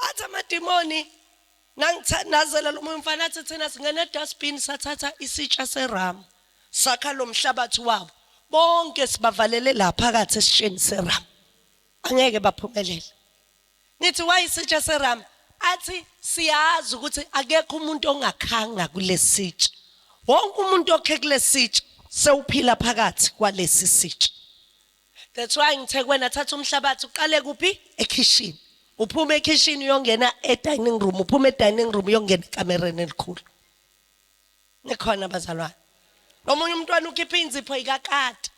athi amadimoni nangithandazela lo moya umfana athi thina singena dustbin sathatha isitsha seram sakha lo mhlabathi wabo bonke sibavalele la phakathi esitsheni seram angeke baphumelele nithi wayisitsha seram athi siyazi ukuthi akekho umuntu ongakhanga kulesitsha wonke umuntu okhe kulesitsha sewuphila phakathi kwalesi sitsha That's why ngithe kuwena thatha umhlabathi uqale kuphi ekhishini. Uphuma ekhishini uyongena edining room, uphuma edining room uyongena ekamereni elikhulu. Nikhona bazalwane. Omunye umntwana ukhipha inzipho ikakati.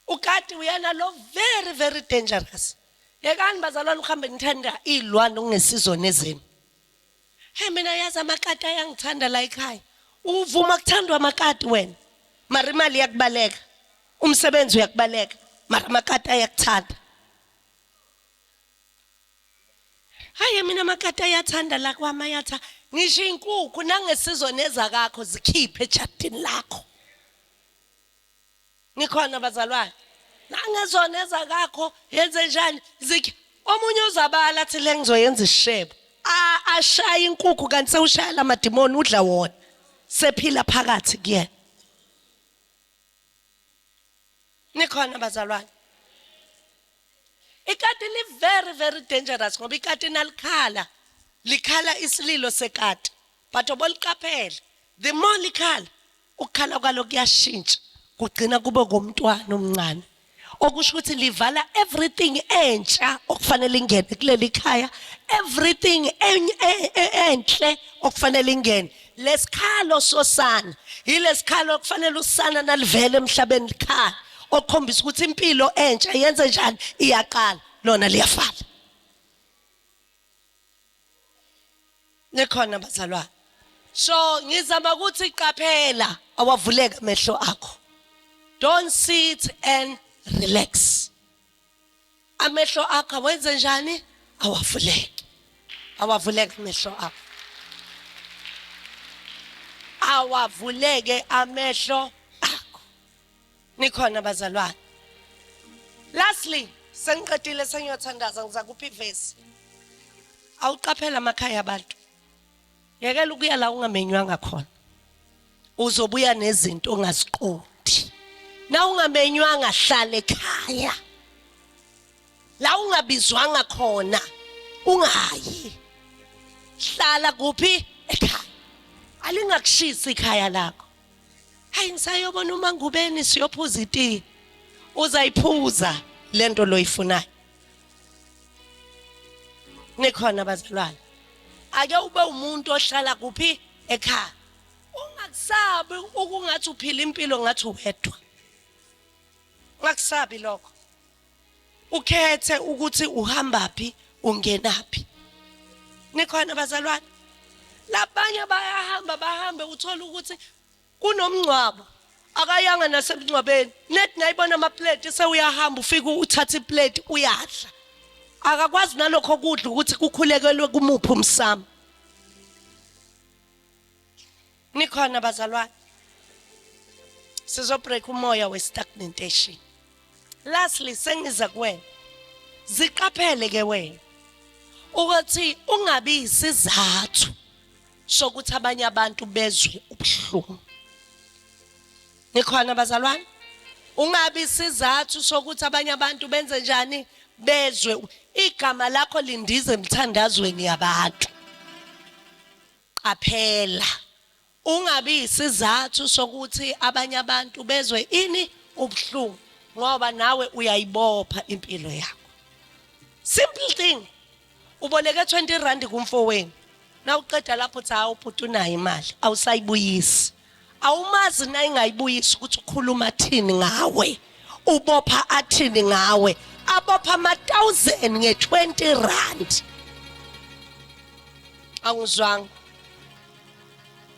Ukati uyena lo very very dangerous. Yekani bazalwane uhambe nithanda izilwane okungesizona ezenu. Hey mina yazi amakati ayangithanda la ekhaya. Uvuma kuthandwa amakati wena. Mara imali yakubaleka. umsebenzi uyakubaleka mara amakati ayakuthanda hayi mina amakati ayathanda la kwami ayatha ngisho inkukhu nangesizweni ezakakho zikhiphe ejadini lakho nikhona bazalwane nangezona ezakakho yenze njani zikhe omunye uzabala athi le ngizoyenza isishebo ashaya inkukhu kanti sewushaya lamadimoni udla wona sephila phakathi kuyena nikhona bazalwane ikati li very very dangerous ngoba ikati nalikhala likhala isililo sekati but oboliqaphela the more likhala ukukhala kwalo kuyashintsha kugcina kube komntwana omncane okusho ukuthi livala everything entsha okufanele ingene kuleli khaya everything enhle okufanele ingene lesikhalo sosana yilesikhalo okufanele usana nalivele emhlabeni likhala okukhombisa ukuthi impilo entsha yenze njani iyaqala lona liyafala nikhona bazalwane so ngizama ukuthi qaphela awavuleka amehlo akho don't sit and relax amehlo akho wenze njani awavuleke awavuleke amehlo akho awavuleke amehlo nikhona bazalwane lastly sengiqedile sengiyothandaza ngiza kuphi ivesi awuqaphela amakhaya abantu yekela ukuya la ungamenywanga khona uzobuya nezinto ongaziqondi na ungamenywanga hlale ekhaya la ungabizwanga khona ungayi hlala kuphi ekhaya alingakushisi ikhaya lakho hayi ngisayobona uma ngubeni siyophuza itiye uzayiphuza lento loyifunayo nikhona bazalwane ake ube umuntu ohlala kuphi ekhaya ungakusabi ukungathi uphila impilo ngathi uwedwa ngakusabi lokho ukhethe ukuthi uhamba phi ungena phi nikhona bazalwane labanye bayahamba bahambe uthola ukuthi kunomngcwabo akayanga nasemngcwabeni net nayibona amaplate sewuyahamba ufike uthatha iplate uyadla akakwazi nalokho kudla ukuthi kukhulekelwe kumuphi umsamo nikhona bazalwane sizobreak umoya westagnantation lastly sengiza kuwena ziqaphele ke wena ukuthi ungabi isizathu sokuthi abanye abantu bezwe ubuhlungu nikhona bazalwane ungabi isizathu sokuthi abanye abantu benze njani bezwe igama lakho lindize emthandazweni yabantu Qaphela, Ungabi yisizathu sokuthi abanye abantu bezwe ini? Ubuhlungu ngoba nawe uyayibopha impilo yakho. Simple thing. Uboleke 20 rand kumfowenu. Nawuqeda lapho uthi hawu bhuti unayo imali, awusayibuyisi. awumazi nayingayibuyisa ukuthi ukhuluma thini ngawe ubopha athini ngawe abopha ama-1000 nge-20 rand awungizwanga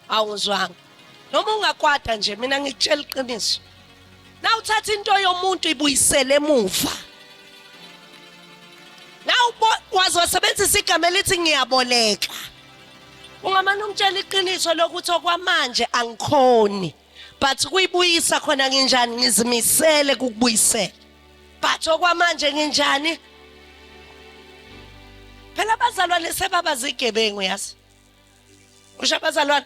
awungizwanga noma ungakwada nje mina ngikutshela iqiniso na uthatha into yomuntu ibuyisele emuva na waze wasebenzisa igama elithi ngiyaboleka Ungamane umtshela iqiniso lokuthi okwamanje angikhoni but kuyibuyisa khona nginjani ngizimisele kukubuyisela but okwamanje nginjani phela abazalwane sebaba zigebengu yazi usho abazalwane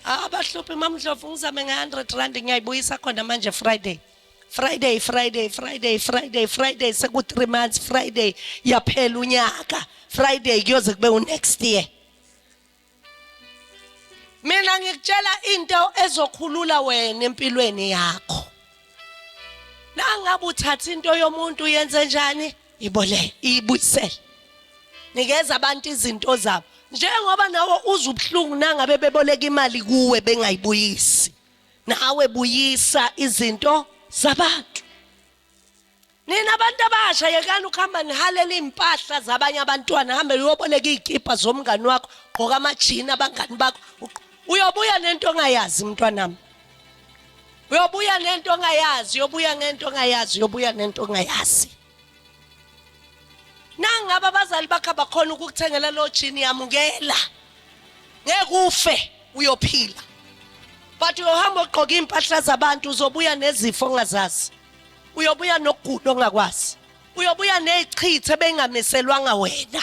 abahluphi mamdlovu ngizame nge-100 rand ngiyayibuyisa khona manje friday Friday Friday Friday Friday Friday seku 3 months Friday yaphela unyaka Friday kuyoze kube u next year Mina ngikutshela into ezokhulula wena empilweni yakho Nangabe uthatha into yomuntu yenze njani ibole ibuyisele Nikeza abantu izinto zabo njengoba nawe uzubuhlungu nangabe beboleka imali kuwe bengayibuyisi nawe buyisa izinto zabantu nina abantu abasha yekani ukuhamba nihalela iy'mpahla zabanye abantwana hambe uyoboleka iy'kibha zomngani wakho gqoka amajini abangani bakho uyobuya nento ongayazi mntwanami uyobuya nento ongayazi uyobuya ngento ongayazi uyobuya nento ongayazi nangabe abazali bakho abakhona ukukuthengela lo jini yamukela ngeke ufe uyophila but uyohamba ogqoka iy'mpahla zabantu uzobuya nezifo ongazazi uyobuya nokugula ongakwazi uyobuya ney'chithe beyingamiselwanga wena